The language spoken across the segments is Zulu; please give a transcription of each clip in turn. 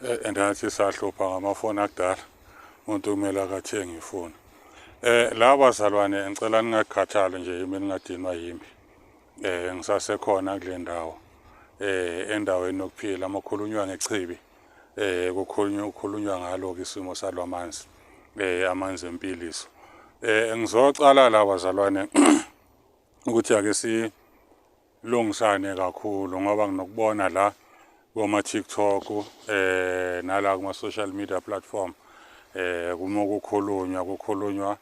Eh, and athi sahlupha ngamafoni akudala umuntu kumele akathenge ifoni eh la bazalwane ngicela ningakhathali nje yimi ningadinwa yimi eh ngisasekhona kule ndawo eh endaweni yokuphila amakhulunywa ngechibi eh kukhulunywa ukukhulunywa ngalo isimo salwamanzi eh amanzi empiliso eh ngizocala la bazalwane ukuthi ake si lungisane kakhulu ngoba nginokubona la koma TikTok eh nala kuma social media platform eh kuma kukhulunywa kukhulunywa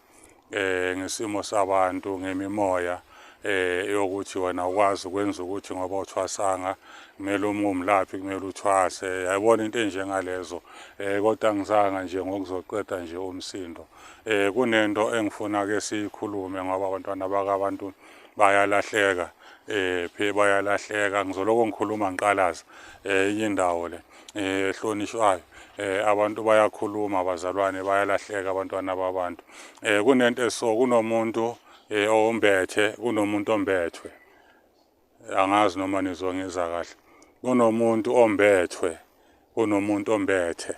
eh ngesimo sabantu ngemimoya eh yokuthi wena ukwazi ukwenza ukuthi ngoba uthwasanga kumele uma umlaphi kumele uthwase yayibona into enjengalezo eh kodwa ngizanga nje ngokuzoqeda nje umsindo eh kunento engifuna ke siyikhulume ngoba abantwana bakabantu bayalahleka eh phe bayalahleka ngizoloko ngikhuluma ngiqalaza eh inye indawo le eh hlonishwayo eh abantu bayakhuluma abazalwane bayalahleka abantwana babantu eh kunento eso kunomuntu eh ombethe kunomuntu ombethwe angazi noma nizwa ngiza kahle kunomuntu ombethwe Kunomuntu ombethe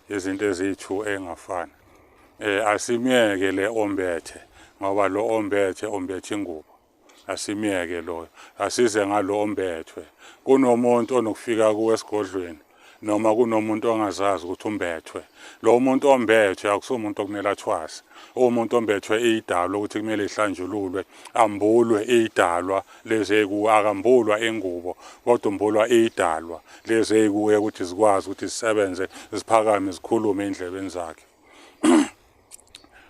izinto eziyi-two engafani. Eh asimyeke le ombethe ngoba lo ombethe ombethe ingubo. Asimyeke loyo. Asize ngalo ombethwe. Kunomuntu onokufika kuwe esigodlweni noma kunomuntu ongazazi ukuthi umbethwe. Lo muntu ombethwe akusumuntu okumele athwase. Uwumuntu ombethwe idalwa ukuthi kumele ihlanjululwe, ambulwe idalwa lezeku akambulwa ingubo kodwa umbulwa idalwa lezeku ukuthi zikwazi ukuthi zisebenze ziphakame zikhulume endlebeni zakhe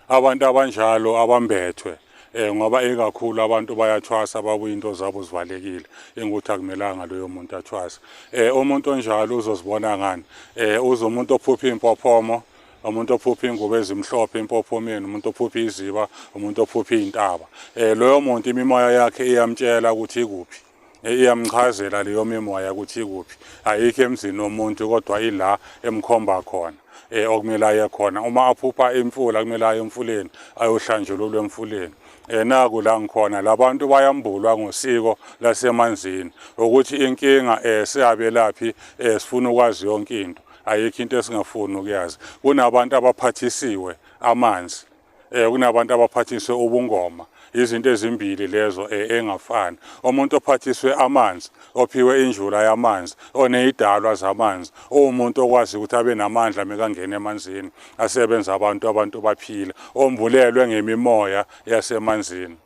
abantu abanjalo abambethwe eh ngoba ekakhulu abantu bayathwasa babuye into zabo zivalekile engukuthi akumelanga loyo muntu athwase eh umuntu onjalo uzozibona ngani eh uzomuntu ophupha impophomo umuntu ophupha ingubo ezimhlophe impophomeni umuntu ophupha iziba umuntu ophupha iy'ntaba um loyo muntu imimoya yakhe iyamtshela ukuthi ikuphi eh, iyamchazela leyo mimoya ukuthi ikuphi ayikho emzini womuntu kodwa ila emkhomba khona um okumele aye khona uma aphupha imfula kumele aye emfuleni ayohlanjululwa emfuleni enaku la ngikhona labantu bayambulwa ngosiko lasemanzini ukuthi inkinga eh siyabelaphi eh sifuna ukwazi yonke into ayikho into esingafuni ukuyazi kunabantu abaphathisiwe amanzi eh kunabantu abaphathiswe ubungoma izinto ezimbili lezo eh, engafani umuntu ophathiswe amanzi ophiwe injula yamanzi oneyidalwa zamanzi umuntu okwazi ukuthi abe namandla mekangena emanzini asebenza abantu abantu baphila ombulelwe ngemimoya yasemanzini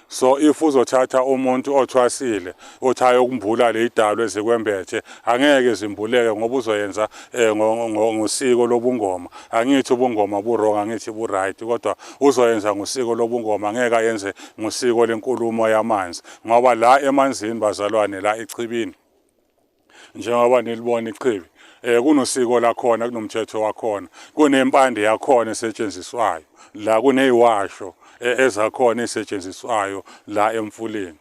so if uzothatha umuntu othwasile othi ayokumbula le idalwe ezikwembethe angeke zimbuleke ngoba uzoyenza eh, ngosiko lobungoma angithi ubungoma burong angithi bu-right kodwa uzoyenza ngosiko lobungoma angeke ayenze ngosiko lenkulumo yamanzi ngoba la emanzini bazalwane la echibini njengoba nilibona ichibi eh kunosiko lakhona kunomthetho wakhona kunempande yakhona esetshenziswayo la kuneyiwasho e, ezakhona esetshenziswayo la emfuleni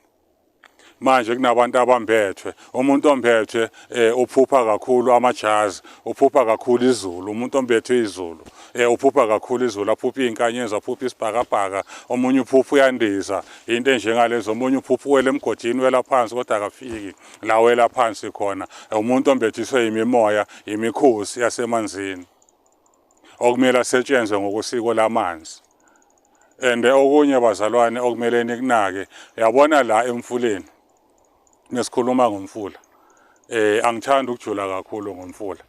manje kunabantu abambethwe umuntu ombethwe eh, uphupha kakhulu amajazi uphupha kakhulu izulu umuntu ombethwe izulu eh, uphupha kakhulu izulu aphupha izinkanyezi aphupha isibhakabhaka omunye uphupha uyandiza into enjengalezo omunye uphupha uwele emgodini wela phansi kodwa akafiki lawela phansi khona umuntu ombethiswe imimoya imikhosi yasemanzini okumele asetshenzwe ngokusiko lamanzi and okunye bazalwane okumele nikunake yabona la emfuleni nesikhuluma ngomfula eh angithanda ukujula kakhulu ngomfula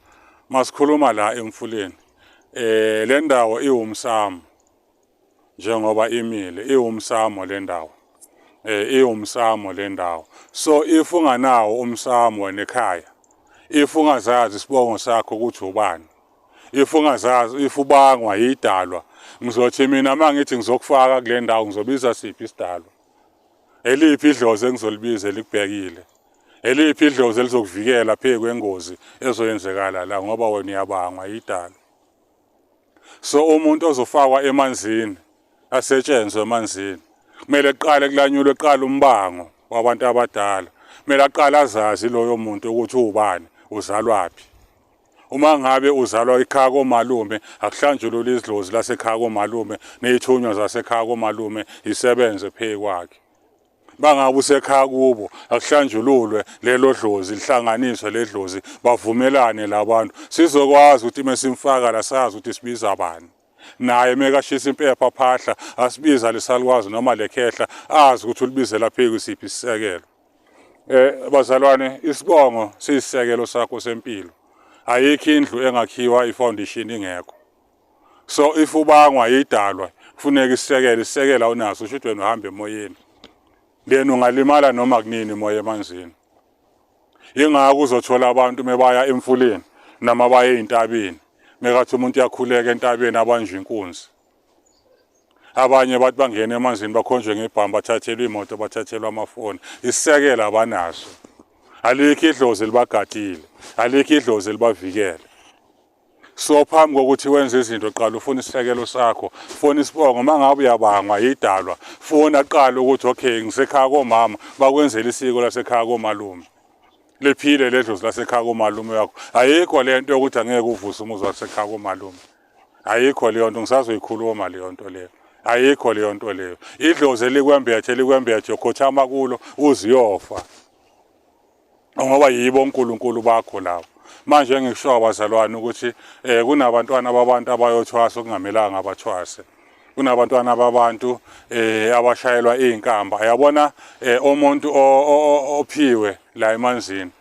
masikhuluma la emfuleni eh le ndawo iwumsamo njengoba imile iwumsamo le ndawo eh iwumsamo le ndawo so if unganawo umsamo wena ekhaya if ungazazi isibongo sakho ukuthi ubani if ungazazi if ubangwa yidalwa ngizothi mina mangithi ngizokufaka kule ndawo ngizobiza siphi isidalwa eliphi idlozi engizolibiza elikubhekile eliphi idlozi elizokuvikela phezu kwengozi ezoyenzekala la ngoba wena uyabangwa yidalwa so umuntu ozofakwa emanzini asetshenzwe emanzini kumele kuqale kulanyulwe kuqala umbango wabantu abadala kumele aqale azazi loyo muntu ukuthi ubani uzalwaphi uma ngabe uzalwa ikhaya komalume akuhlanjulula izidlozi lasekhaya komalume neyithunywa zasekhaya komalume isebenze phekwakhe bangabe usekhaya kubo akuhlanjululwe lelo dlozi lihlanganiswe ledlozi bavumelane labantu sizokwazi ukuthi mesimfaka la sazi ukuthi sibiza bani naye mekashisa impepha phahla asibiza lesalukwazi noma lekhehla azi ukuthi ulibizela pheki siphi isisekelo eh bazalwane isibongo siyisekelo sakho sempilo ayikho indlu engakhiwa ifoundation ingekho so if ubangwa yidalwa kufuneka isekele isekela onaso usho ukuthi wena uhamba emoyeni then ungalimala noma kunini moya emanzini yingakho uzothola abantu mebaya emfuleni noma baye ezintabeni mekathi umuntu uyakhuleka entabeni abanje inkunzi abanye bathi bangena emanzini bakhonjwe ngebhamu bathathelwe imoto bathathelwe amafoni isisekela abanaso alikho idlozi libagadile alikho idlozi libavikele so phambi kokuthi wenze izinto qala ufuna isisekelo sakho fona isibongo uma ngabe uyabangwa yidalwa fona qala ukuthi okay ngisekhaya komama bakwenzela isiko lasekhaya komalume liphile ledlozi lasekhaya komalume yakho ayikho le nto yokuthi angeke uvuse umuzi wasekhaya komalume ayikho leyo nto ngisazoyikhuluma leyo nto leyo ayikho leyo nto leyo idlozi elikwembethe likwembethe khothama kulo uziyofa ngoba yibo uNkulunkulu bakho lawo manje ngisho abazalwane ukuthi eh kunabantwana babantu abayothwasa okungamelanga abathwase kunabantwana babantu eh abashayelwa izinkamba yabona eh, umuntu ophiwe la emanzini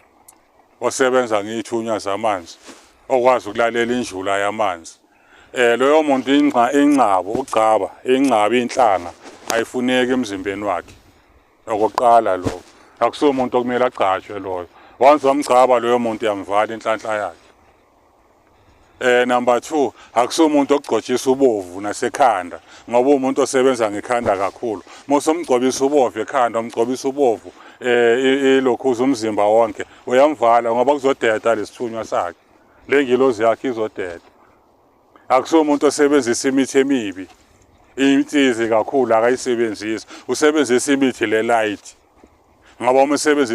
osebenza ngithunya zamanzi okwazi ukulalela injula yamanzi eh loyo muntu inxa ingcabo ugcaba ingcaba inhlanga ayifuneki emzimbeni wakhe Okokuqala lo akusiwo umuntu okumele agcatshwe loyo. Once wamgcaba loyo muntu yamvala inhlanhla yakhe. Eh number 2 akusiwo umuntu okugcotshisa ubovu nasekhanda ngoba umuntu osebenza ngekhanda kakhulu. Mosomgcobisa ubovu ekhanda umgcobisa ubovu eh ilokhuza umzimba wonke uyamvala ngoba kuzodeda lesithunywa sakhe. Lengilozi yakhe izodeda. akusiwo umuntu osebenzisa imithi emibi insizi kakhulu akayisebenzisi usebenzisa imithi le light ngoba uma usebenzisa